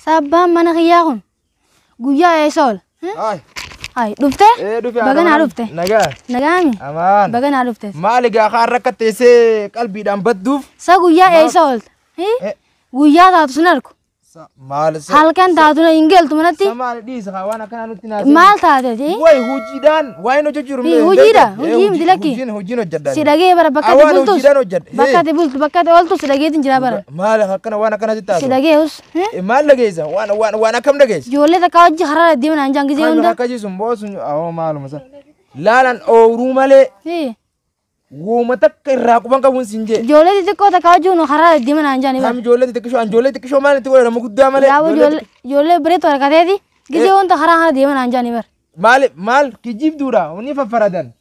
Sa abbaan mana kiyyaa kun guyyaa eessa oola? Haay. Haay dhuftee? Ee dhufe Baga naa dhufte. Nagaa. Nagaami? Amaan. Baga naa dhufte. Maali gaa kaan rakka teessee qalbiidhaan badduuf. Sa guyyaa eessa oolta? Hi? Eh. Guyyaa taatu sun arku. Sa- Maali sa- Halkan taatu na hin galtu manatti. sa maali dhiisa kaa waan akkanaa nutti naasee. Maal taateeti? Way hojiidhaan Waa hin hojjechiiru. Hii, hojiidha, hojii miti lakki. Hojiin hojiin hojjedha. Si dhagee bara bakka ati Awaan bultus. hojiidhaan hojjedha. Hii. Bakka ati bultu, bakka ati ooltu si dhageetiin jira bara. Maal akkana waan akkana sitti Si haasa'u? dhageeus. Eh, Maal dhageessa? Waan waan waan akkam dhageessa? Ijoollee takka hojii karaa irra deeman hanjaan gisee Kan hunda. akkasii sun boosun awoo maaluma san. Laalan ooruu malee Hii. Wooma takka irraa quban qabuun siin jee. Ijoollee xixiqqoo takka wajjin karaa irra deeman aan jedhani Naam bara. ijoollee xixiqqishoo an ijoollee xixiqqishoo maal itti godhama guddaa malee. Yaaboo ijoollee ijoollee xixiqqishoo. ijoollee bireetu harkateeti gisee wanta karaa kana deeman aan jedhani bara. Maal maal kijibduudha ni faffaradan.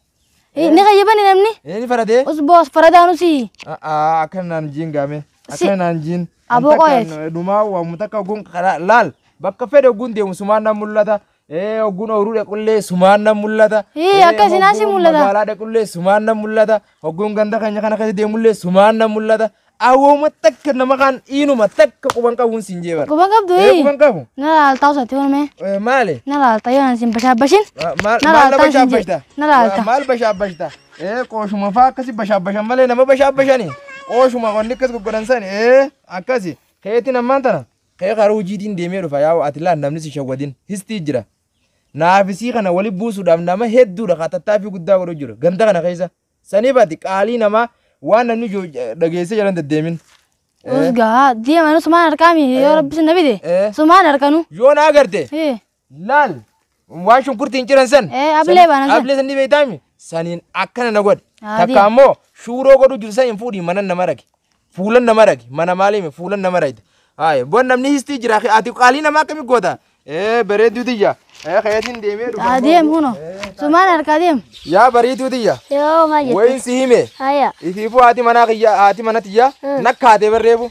Eh, Ni kayyabani namni Ee ni faradee. usboo as faradaan usii. A'aa akka naan jiin gaame. Si- Akka naan jiin. Aboo qoyeeti. Dhumaa waamu takka oguun karaa laal bakka fedhe oguun deemu sumaan naan mul'ata. Ee hogguun ooruu dhaqullee sumaan nan mul'ata. Ee akka isin asii mul'ata. Magaalaa dhaqullee sumaan nan mul'ata. Hogguun ganda keenya kana keessa deemullee sumaan nan mul'ata. Awwooma takka nama kaan dhiinuma takka quban qabuun siin jeebara. Quban qabdu Ee quban qabu. Na laalta osatti wanume. Maali? Na laalta yoo isin bashaabashin. Maal laaltaan siin bashaabashta? jedhe. Na laalta. Maal bashaabashta? Ee qooshuma faa akkasi bashaabashan malee nama bashaabashani. Qooshuma wanni akkas goggodan sani. Ee akkasi. Keetiin ammaan tana. Kee karaa hujiitiin deemee dhufa yaa'u ati laal namni si shawwadin histii jira naafi sii kana wali buusuudhaaf nama hedduudha kaa tattaaffii guddaa godhu jiru ganda kana keessa saniif ati qaalii namaa waan namni jo- dhageessee jalan deddeemin. Usgaa deeman sumaan harkaa mi yoo rabbi sinna bide Eh. sumaan harkanu yoo na agarte Eh. Laal waan shunkurtiin ciran san. Eh, ablee baana san. Ablee san ni beektaami. Saniin akkana na godhe. Haa, Takka diin. ammoo shuuroo godhu jiru san hin fuudhi mana nama rage. Fuulan nama rage. Mana maalii mi fuulan nama rage. Haaya bon namni histii jira. Ati qaalii nama akkami goota. Eh bareedduu tiyya. Eh kayatiin deemee dhufa. Haa deem huno. Sumaan harkaa deem. Yaa bareedduu tiyya. Yoo maal Wayin jettee? si hime. Haya. Isiifuu haati manaa kiyya haati mana tiyya nakkaatee barreefu.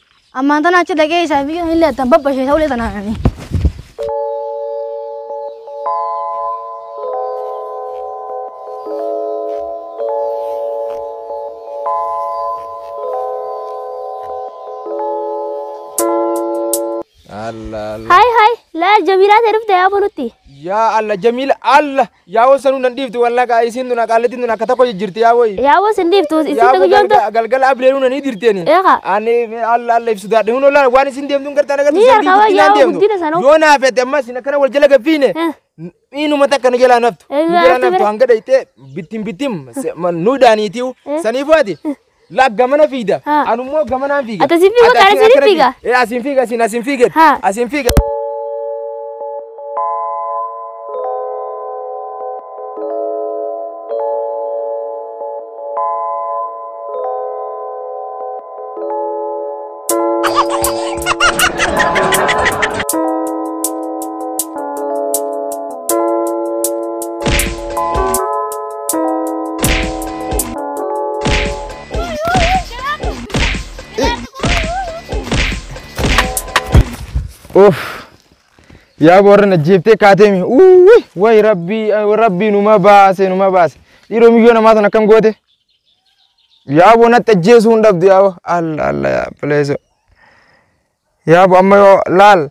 Ammaan tana achi dhaqee isaa fi illee attan babbashee ta'ulee tanaani. Allah Allah. Hai hai, laal Jamiilaa ta'e dhufte yaa bulutti. Yaa Allah Jamiila Allah. Yaa woo sanuu nan dhiiftu wallah kaa isiin tun aqaallitiin tun akka tokko jijjirti yaa woyi. Yaa woo sin dhiiftu isiin Yaa tun woo yoomta. galga- galgala abreeruu nanii dirteeni. Eeqa. Ani alla alla ibsu daadhe huno laala waan isin deemtuun gartaa nagartu Ni sandii argaa guddinaan yaa deemtu. guddina sanuu. Yoo naa fedhe ammas isin akkana wal jala gabbiine. Eh. Miinuma takka nu jalaa naftu. Eh, Nu jalaa ati naftu bira. hanga dhayxee bittim bittim se- ma- nu daaniitiu. Eh. Saniifuu ati La gamana fiida. Ha. Anummoo gamanaan fiiga. Ati asiin fiigu, Ati kaan asiin asiin akkanatti- fiiga. Eh, Asiin fiiga, asiin asiin fiiga. Ha. Asiin fiiga. Uff. Yaa warra na jeeftee kaateemi. Uwwi. Wayi rabbii rabbii numa baase numa baase. Dhiiroo miyyoo namaa sana akkam goote? Yaabo natti ajjeesuu hin dhabdu yaabo. Alla alla yaa bileeso. Yaabo amma yoo laal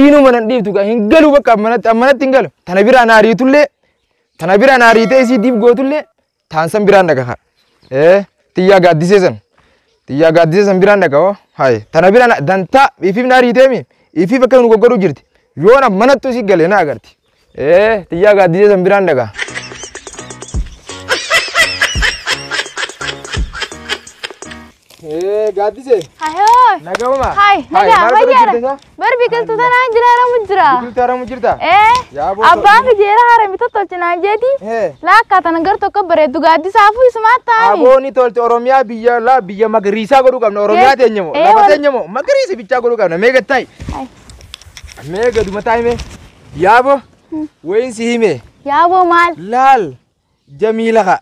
inuma nan dhiiftu gaa hin galu bakka ammanatti ammanatti hin galu. Tana biraa naa riitullee tana biraa naa riitee isii diif gootullee taan san biraan dhaqa kaa. Ee xiyyaa gaaddisee san xiyyaa gaaddisee san biraan dhaqa hoo. Hayi tana biraa na- dantaa ifiif naa riiteemi ifiif akka nu goggodhu jirti. Yoona manattu isii galee na agarti. Ee tiyyaa gaaddisee san biraan dhagaa. Ee gaaddisee Hayoo. nagahuma. Hay, nagaa maal godhu fayyaadha. jirta isaa? Bar biqiltuu tanaan jira haramu jira. Biqiltuu haramu jirta? Ee, Yaa boo abbaan ta'u. fijeera harame tottolche naan jeeti. Ee. Laakkaa tana gar tokko bareeddu gaaddisaafuu isumaa taa'ani. Abooni tolti Oromiyaa biyya laa biyya magariisaa godhuu qabna. Oromiyaa Yes. teenyamo. Ee, Lafa wal- teenyamo. Magariisa bichaa godhuu qabna. Meeqa ta'i? Hay. Mee gaduma taa'ime. Yaabo wayiin si hime. Yaaboo maal? Laal jamiila ka.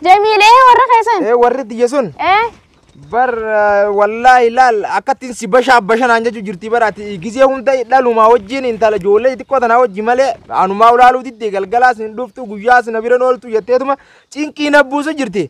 Jamiil ee warra keessan. Ee warri tiyya sun Ee bar eh, wallaahi laal akkattiin si bashaa bashanaan jechuu jirti baraati gizee hunda dhalumaa wajjin intala ijoollee xiqqoo tanaa wajji malee anumaa ulaaluu diddee galgalaas hin dhuftu guyyaas na bira hin ooltu jetteetuma cinqii na buusu jirti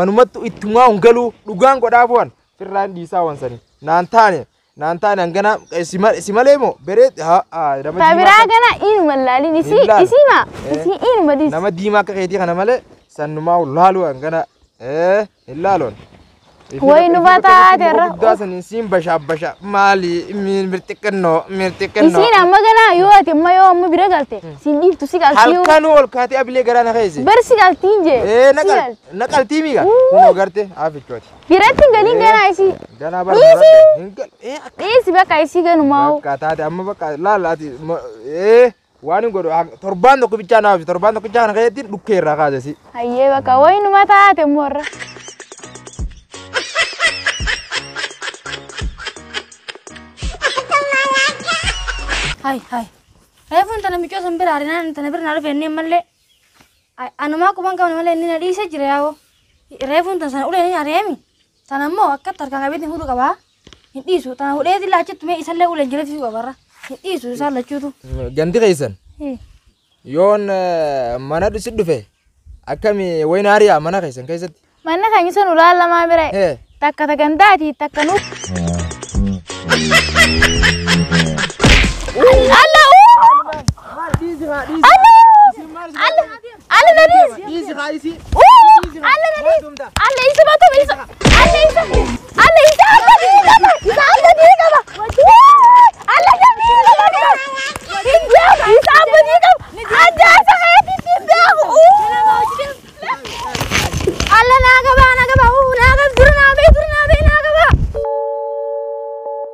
manumattu ittumaa hin galuu dhugaan godhaa bu'an firraa hin dhiisaa waan sanii naan taane naan taane hanganaa eh, si ma- si malee moo beree haa haa nama diimaa Tabiraa akka- kana inuma laalin isii Hin laalu. isiima Eh. isii inuma dis. nama diimaa akka keetii kana malee sannumaa laaluu hangana eh hin laaloon Way nu bataa jirra. Guddaa saniin siin bashaa bashaa maali mirxiqqannoo mirxiqqannoo. Isiin amma ganaa yoo ati amma yoo amma bira galte siin dhiiftu si galtii yoo Halkanuu ol kaatee abilee garaa na keesse. bar si galtiin jee. Ee si gal- naqaltii miiga. Wuu. Kunoo garte haafichooti. Biratti hin galin ganaa isii. Ganaa bara Dhiisi. duratti hin gal. Ee akka Dhiisi bakka isii ganumaa. bakka taate amma bakka laala ati ma- ee. Waan hin godhu hang- torbaan tokko bichaa naaf ibsi. torbaan tokko bichaa kana keessatti dhukkee irraa kaase si. Hayyee bakka wayinuma taate immoo irra. Hai, hai. Reefuun tana miccoo san bira arinaan tana bira na dhufe inni malee. Anumaa quban qabna malee inni na dhiise jira yaa'oo. Reefuun tana sana ulee ni ari'eemi. Tana immoo akka tarkaan qabeetiin huduu qabaa. Hin dhiisu. Taa hudhee sillaa achitti mee isallee uleen jireessisuu qabarra. Hin dhiisu isaan lachuutu. Ganti keessan Hii. yoon eh, mana dhusi dhufe akkami wayna hariyaa mana keessan keessatti. Manni keenya sun ulaan lamaa bira. Hee. Takka ta gandaati takka nuuf. Alla uu! Alla! Alla! Alla na dhiisi. Dhiisi haa isii. Uu! Alla na dhiisi. Alla isa batu isa. Alla isa. Alla isa alla dhiisi qaba. Isa alla dhiisi qaba. Wuu! Alla isa dhiisi qaba. Hin beeku. Isa abba dhiisi qaba. Addaa isa keetti hin beeku. Uu! Alla naa qabaa naa qabaa. Uu! Naa qab dura naa bee dura naa bee naa qabaa.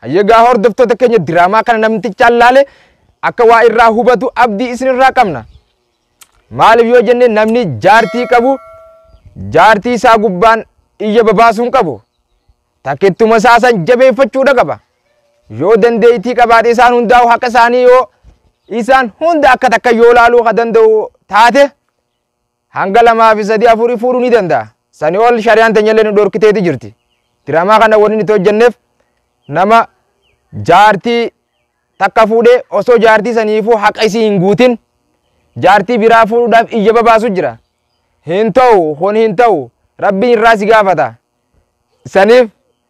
Hayyee egaa hordoftoota keenya diraamaa kana namtichaan laale akka waa irraa hubatu abdii isinirraa qabna. Maaliif yoo jenne namni jaartii qabu jaartii isaa gubbaan iyya babaasuu hin qabu. Takkittuma isaa san jabeeffachuudha qaba. Yoo dandeettii qabaate isaan hundaa'u haqa isaanii yoo isaan hunda akka takka yoo laaluu ka danda'u taate Hanga lama fi sadi afuri fuudhu ni danda'a. Sani ol shari'aan teenyallee nu dhorkiteeti jirti. Diraamaa kana wanni nuti hojjannef nama jaartii takka fuudhee osoo jaartii saniifuu haqa isii hin guutin jaartii biraa fuudhuudhaaf iyya babaasu jira. Hin ta'u kun hin ta'u rabbiin irraa si gaafata. Saniif